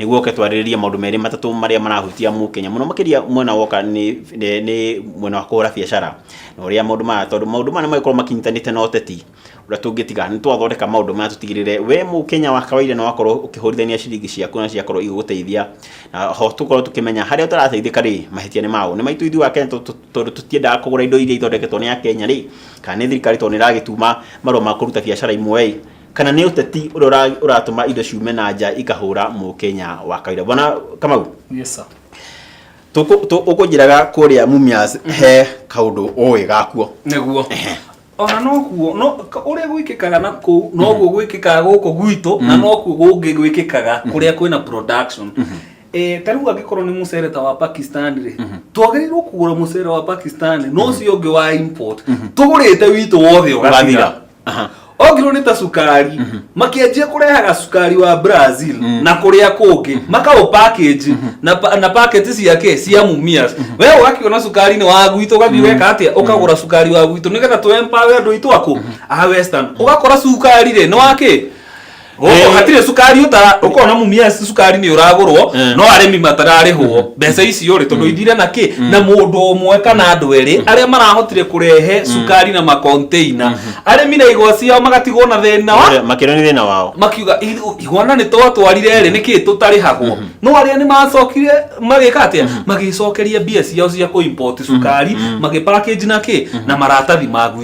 nĩguo oke twarĩrĩrie maũndũ merĩ matatũ marĩa marahutia mũkenya mũno makĩria mwena woka nĩ nĩ- nĩ mwena wa kũhũra biacara na ũrĩa maũndũ maya tondũ maũndũ maya nĩmagĩkorwo makinyitanĩte na ũteti ũrĩa tũngĩtiga nĩ twathondeka maũndũ maya tũtigĩrĩre we mũkenya wa kawaida nĩ wakorwo ũkĩhũrithania ciringi ciaku na ciakorwo igĩgũteithia na ho tũkorwo tũkĩmenya harĩa ũtarateithĩka rĩ mahĩtia nĩ maũ nĩ maitũ ithuĩ akenya tondũ- tondũ tũtiendaga kũgũra indo iria ithondeketwo nĩ akenya rĩ kana nĩ thirikari tondũ nĩ ĩragĩtuma marũa ma kũruta biacara imwe ĩ kana nĩ ũteti ũrĩa ũra- ũratũma indo ciume na nja ikahũra mũkenya wa kawaida bwana kamau Yes, sir. tũkũ- tũ- ũkũnjĩraga kũrĩa mumias he kaũndũ ũĩ gakuo nĩguo ona nokuo no ka- ũrĩa gwĩkĩkaga na kũu noguo gwĩkĩkaga gũkũ gwitũ na nokuo gũngĩ gwĩkĩkaga kũrĩa kwĩna production Eh, ta rĩu angĩkorwo nĩ mũcere ta wa pakistan rĩ twagĩrĩirwo kũgũra mũcere wa pakistan no ũcio ũngĩ wa import tũgũrĩte witũ wothe ũgathira Ũgathira. Aha. ongirwo nĩ ta cukari makĩanjia kũrehaga cukari wa brazil na kũrĩa kũngĩ makaũpakĩnji na pa- na paketi ciake cia mumias we ũgakĩona cukari nĩ wa gwitũ ũgathiĩ weka atĩa ũkagũra cukari wa gwitũ nĩgetha tũempawe andũ aitũ akũ a western ũgakora cukari rĩ nĩ wakĩ gũkũ hatirĩ cukari ũtara ũkona mumia cukari nĩ ũragũrwo Eh. no arĩmi matararĩhwo mbeca icio rĩ tondũ ithire na kĩ na mũndũ ũmwe kana andũ erĩ arĩa marahotire kũrehe cukari na makonteina arĩmi na igwa ciao magatigwo na thĩna wa Ũrĩa- makĩria nĩ thĩna wao makiuga "Ithu- igwana nĩ twatwarire rĩ nĩkĩ tũtarĩhagwo no arĩa nĩ macokire magĩka atĩa magĩcokeria mbia ciao cia kũ import cukari magĩpackage na kĩ na maratathi maguo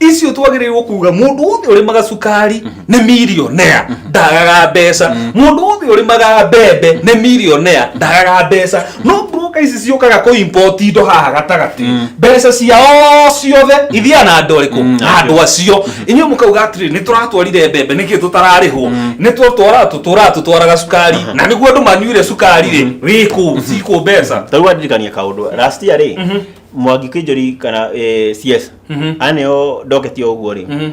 icio twagĩrĩirwo kuga mũndũ wothe ũrĩmaga cukari nĩ milionea ndagaga mbeca mũndũ wothe ũrĩmaga mbembe nĩ milionea ndagaga mbeca no broka ici ciũkaga kũ import indo haha gatagatĩ mbeca ciao ciothe ithiaga na andũ arĩkũ Mm, na andũ acio inyuĩ mũkauga atĩrĩ nĩ tũratwarire mbembe nĩkĩ tũtararĩhwo nĩ tũtwara tũtũra tũtwaraga cukari na nĩguo andũ manyuire cukari rĩ wĩkũ cikũ mbeca tarĩu wandirikania kaũndũ last year rĩ mwangi kinjori kana eh, cs Mhm. aneo ndoketio ũguo rĩ Mhm.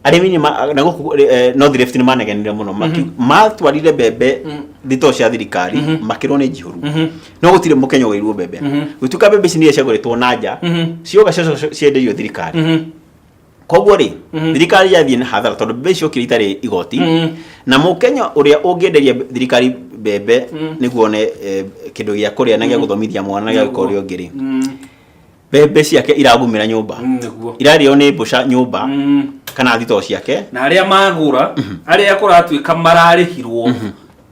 arĩmi nĩ ma- na gũkũ eh, north rift nĩ manegenire mũno Maki- matwarire mbembe thitoo cia thirikari makĩrwo nĩ njihũru Mhm. no gũtirĩ mũkenya ũgĩirwo mbembe Mhm. gũtuĩka mbembe ici nĩ ciagũrĩtwo na nja Mhm. cioga cienderio thirikari Mhm. koguo rĩ thirikari yathiĩ na hathara tondũ mbembe icio kiro itarĩ igoti na mũkenya ũrĩa ũngĩenderia mbe- thirikari mbembe nĩguo one eh, kĩndũ gĩa kũrĩa na gĩa gũthomithia mwana na gĩa gwĩka ũrĩa ũngĩ rĩ mbembe ciake iragumĩra nyũmba nĩguo irarĩo nĩ mbũca nyũmba kana thitoo ciake na arĩa magũra arĩa kũratuĩka mararĩhirwo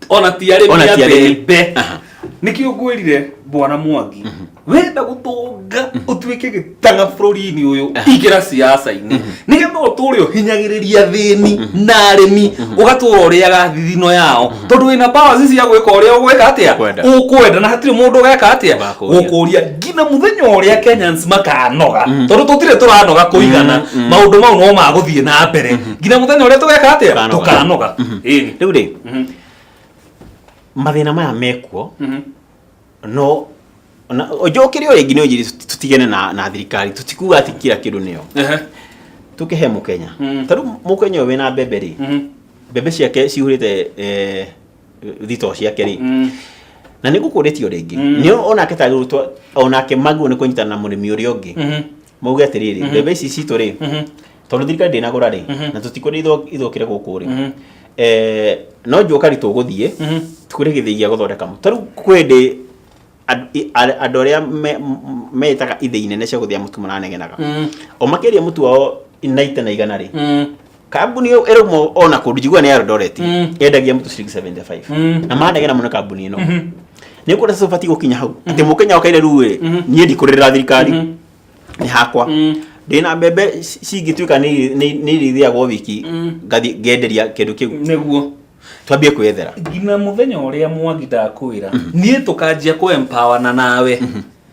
ona ti arĩmi Ona ti a arĩmi. mbembe Aha. nĩkĩo ngwĩrire bwana mwangi wenda gũtũnga ũtuĩke gĩtanga bũrũri-inĩ ũyũ ingĩra ciaca-inĩ nĩgetha ũtũre ũhinyagĩrĩria thĩni na arĩmi ũgatũra ũrĩaga thithino yao tondũ wĩna power ici cia gwĩka ũrĩa ũgwĩka atĩa Ũkwenda. ũkwenda na hatirĩ mũndũ ũgeka atĩa Wakũria. gũkũria nginya mũthenya ũrĩa kenyans makanoga tondũ tũtirĩ tũranoga kũigana maũndũ mau no magũthiĩ na mbere nginya mũthenya ũrĩa tũgeka atĩa Tũkanoga. tũkanoga Ĩĩ. rĩu rĩ Mhm. mathĩna maya mekuo Mhm. no na- njũkĩrĩ o rĩngĩ nĩ ũnjiri tũtigene na, na thirikari tũtikuga atĩ kira kĩndũ nĩyo Ehe. tũkĩhe mũkenya Mm. tarĩu mũkenya ũyũ wĩna mbembe rĩ Mhm. mbembe ciake cihũrĩte eh, thitoo ciake rĩ Mm. na nĩ gũkũrĩtio rĩngĩ Mm. nĩ onake tagĩrĩtwo onake maguo nĩ kũnyitana na mũrĩmi ũrĩa ũngĩ Mhm. mauge atĩrĩrĩ mbembe ici citũ rĩ tondũ thirikari ndĩnagũra rĩ na tũtikwenda itho- ithũkĩre gũkũ rĩ Eh, no njũka ri tũgũthiĩ tũkũre gĩthĩi gĩa gũthondeka mũtu tarĩu kwĩ ndĩ and- i- a- andũ arĩa me- m- metaga ithĩi nene cia gũthĩa mũtu maranegenaga o makĩria mũtu wao naite na igana rĩ kambuni ĩyo ĩrũmwo o na kũndũ njiguaga nĩ ya Eldoret Mm. yendagia mũtu ciringi 75 Mm. na manegena mũno kambuni ĩno Mhm. nĩ kuona sasa ũbatiĩ gũkinya hau atĩ mũkenya okaire rĩu ĩ Mhm. niĩ ndikũrĩrĩra thirikari Mhm. nĩ hakwa Mm. ndĩna mbembe ci- cingĩtuĩka nĩ- nĩ- nĩ irĩthiagwo wiki Mm. ngathi ngenderia kĩndũ kĩu nĩguo twambie kwĩyethera nginya mũthenya ũrĩa mwangi ndakwĩra niĩ tũkanjia kũempawana nawe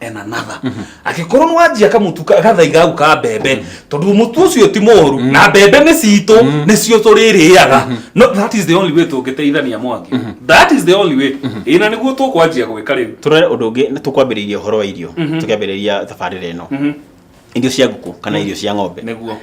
and another angĩkorwo nĩ wanjia kamutu ka- gathai gau ka mbembe tondũ mũtu ũcio ti mũru na mbembe nĩ citũ nĩcio tũrĩrĩaga no that is the only way tũngĩteithania mwangi that is the only way ĩ na nĩguo tũkwanjia gwĩka rĩu tũrore ũndũ ũngĩ nĩ tũkwambĩrĩria ũhoro wa irio tũkĩambĩrĩria thabarĩra ĩno irio cia ngũkũ kana irio cia ng'ombe nĩguo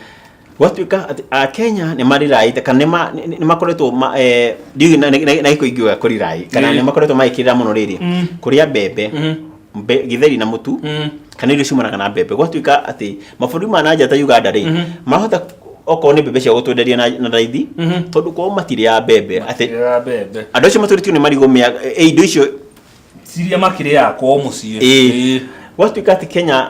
gwatuĩka atĩ akenya nĩ mariraĩte kana nĩ ma- nĩ- nĩ makoretwo ma- eh, ndiũĩ na- na na gĩkũ ingiuga kũriraĩ kana Ĩĩ. nĩ makoretwo magĩkĩrĩra mũno rĩrĩ Mm. kũrĩa mbembe Mhm. mbe- gĩtheri na mũtu Mm. kana irio ciumanaga na mbembe gwatuĩka atĩ mabũrũri ma na nja ta uganda rĩ Mhm. mahota okorwo nĩ mbembe cia gũtwenderia na na raithi Mhm. tondũ kwao matirĩ ya mbembe atĩ Ĩrĩa mbembe andũ acio matũrĩtio nĩ marigũ mĩa eh, indo icio ciria makĩrĩaga kwao mũciĩ ĩĩ gwatuĩka atĩ kenya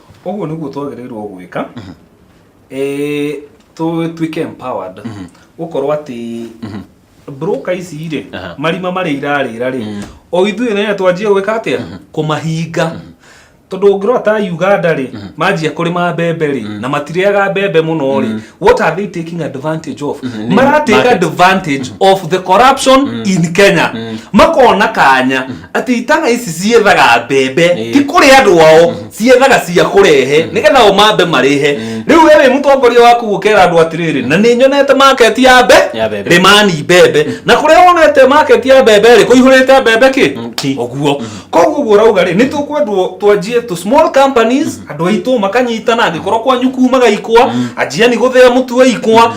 ũguo nĩguo twagĩrĩirwo gwĩka eh, tũtuĩke empowered gũkorwo atĩ broker ici rĩ Aha. marima marĩa irarĩra rĩ o ithuĩ nayo twanjie gwĩka atĩa kũmahinga tondũ ũngĩrora ta uganda rĩ manjia kũrĩma mbembe rĩ na matirĩaga mbembe mũno rĩ what are they taking advantage of Nĩ maratake market. advantage of the corruption in kenya makona kanya atĩ itana ici ciethaga mbembe Ĩĩ. ti kũrĩ andũ ao ciethaga cia kũrehe nĩgetha o mambe marĩhe rĩu we wĩ mũtongoria waku gũkera andũ atĩrĩrĩ na nĩ nyonete maketi ya mbe Ya mbembe. rĩmani mbembe na kũrĩa wonete maketi ya mbembe rĩ kũihũrĩte mbembe Mm, ti. kĩ ũguo koguo guo rauga rĩ nĩ tũkwendwo twanjie tũ small companies andũ aitũ makanyitana angĩkorwo kwanyu kumaga ikwa anjia nĩ gũthĩa mũtu wa ikwa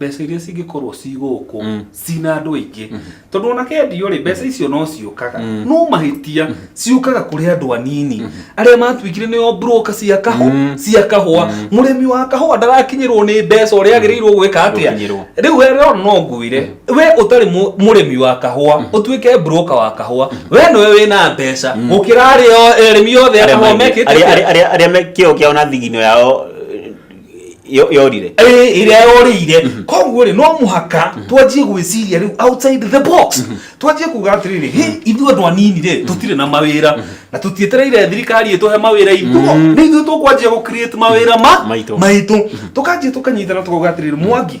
mbeca iria cingĩkorwo ci gũkũ cina andũ aingĩ tondũ ona kendio rĩ mbeca icio no ciũkaga no mahĩtia ciũkaga kũrĩ andũ anini arĩa matuĩkire nĩo broker cia kahũ cia kahũa mũrĩmi wa kahũa ndarakinyĩrwo nĩ mbeca ũrĩa agĩrĩirwo gwĩka atĩa Gũkinyĩrwo. rĩu we rero no ngwĩre we ũtarĩ mũ- mũrĩmi wa kahũa ũtuĩke broker wa kahũa we nĩwe wĩna mbeca gũkĩra arĩa o- arĩmi othe a kahũa mekĩte arĩa- atĩa? arĩa- arĩa- arĩa me- kĩo kĩao na thigino yao Yo- yorire Eh, ĩrĩa yorĩire Mhm. koguo rĩ no mũhaka twanjie gwĩciria rĩu outside the box twanjie kuga atĩrĩrĩ "Hĩ, ithuĩ andũ anini rĩ tũtirĩ na mawĩra na tũtietereire thirikari ĩtũhe mawĩra itũ nĩ ithuĩ tũkwanjia gũ create mawĩra ma Maitũ. maitũ tũkanjia tũkanyitana tũkauga atĩrĩrĩ mwangi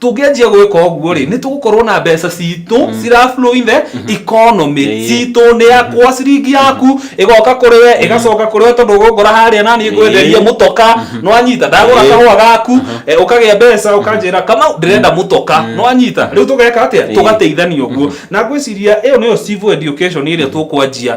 tũngĩanjia gwĩka ũguo rĩ nĩ tũgũkorwo na mbeca citũ cira flow in the economy Yeah, yeah. citũ nĩ yakwa ciringi yaku ĩgoka kũrĩ we ĩgacoka kũrĩ we tondũ ũgũngora harĩa na niĩ ngwenderia Yeah. mũtoka nwanyita ndagũra Yeah. kahũa gaku eh, ũkagĩa mbeca ũkanjĩra kama ndĩrenda mũtoka nwanyita rĩu tũgeka atĩa Yeah. tũgateithania ũguo na ngwĩciria ĩyo nĩyo civil education ĩrĩa tũkwanjia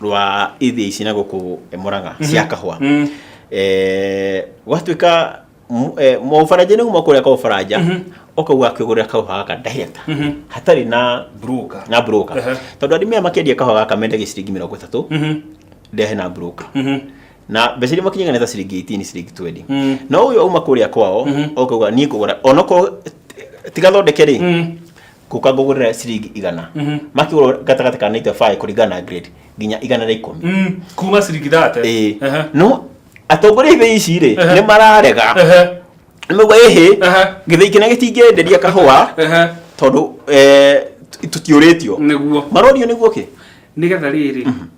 rwa ithiĩ ici na gũkũ eh, mũrang'a cia kahũa Mm. Eh, gwatuĩka mu- eh, mũfaranja nĩ kuma kũrĩa kwa ũfaranja ũkauga akĩgũrĩra kahũa gaka ndaheta hatarĩ na Broker. na broker Ehe. tondũ arĩmi aya makĩendia kahũa gaka mendagia ciringi mĩrongo ĩtatũ Mhm. ndehe na broker Mhm. na mbeca iria makinyaga nĩ ta ciringi 18 ciringi 20 Mm. no ũyũ auma kũrĩa kwao ũkauga niĩ ngũgũra onokorwo tigathondeke rĩ Mm. ngũka ngũgũrĩre ciringi igana makĩgũra gatagatĩ ka 95 kũringana na grade nginya igana rĩa ikũmi Mm, kuma ciringi thate Ĩĩ. Ehe. no atongoria ithĩ ici rĩ Ehe. nĩ mararega Ehe. nĩmauga ĩhĩ Ehe. gĩthĩi kĩna gĩtingĩenderia kahũa Ehe. tondũ eh, tũtiũrĩtio nĩguo marorio nĩguo kĩ nĩgetha rĩrĩ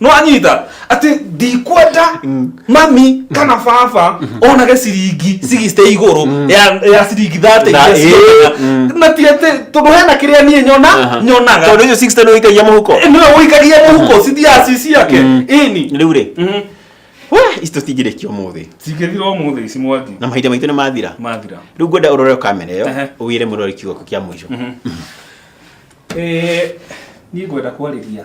nwanyita ati ndikwenda mami kana baba onage ciringi cigicite iguru ya ya ciringi thate Na, iria eh, cionaga. mm. na ti ati tondu hena kiria nie nyona Aha. nyonaga tondå icio sixty nä wikagia må huko niwe wikagia muhuko cithiaga ci ciake Mm. ini rä u rä ici tå tingä rä kia å må thä cingĩthira ũmũthĩ ici mwangi na mahinda maitå nä mathira mathira rä u ngwenda å rore kamera ä yo Ehe. å wä re må rori kiugo kĩa må ico Eh, niĩ ngwenda kwarĩria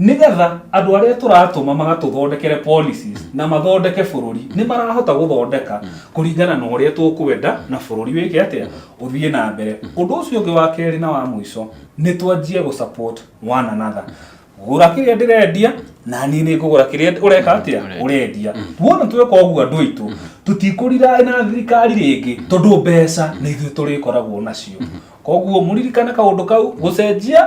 nĩgetha andũ arĩa tũratũma magatũthondekere policies na mathondeke bũrũri nĩ marahota gũthondeka kũringana na ũrĩa tũkwenda na bũrũri wĩke atĩa ũthiĩ na mbere ũndũ ũcio ũngĩ wa kerĩ na wa mũico nĩ twanjie gũ support one another gũra kĩrĩa ndĩrendia na niĩ nĩ ngũgũra kĩrĩa ũreka atĩa Ũrendia. ũrendia wona tweka ũguo andũ aitũ tũtikũriraĩ na thirikari rĩngĩ tondũ mbeca nĩ ithuĩ tũrĩkoragwo nacio koguo mũririkane kaũndũ kau gũcenjia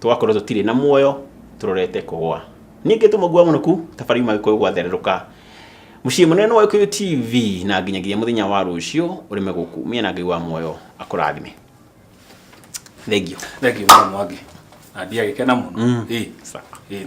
Tũgakorwo tũtirĩ na muoyo tũrorete kũgwa. Ningĩ tũmũgua mũnũku ta bari yuma gĩkũyũ gwathererũka. Mũciĩ mũnene wa Gĩkũyũ TV na nginyagia mũthenya wa rũciũ ũrĩme gũkũ mĩena Ngai wa muoyo akũrathime. Thengiũ. Thengiũ mũno Mwangi. Na ndiagĩkena mũno. Mm. Ĩĩ. Sawa. Ĩĩ.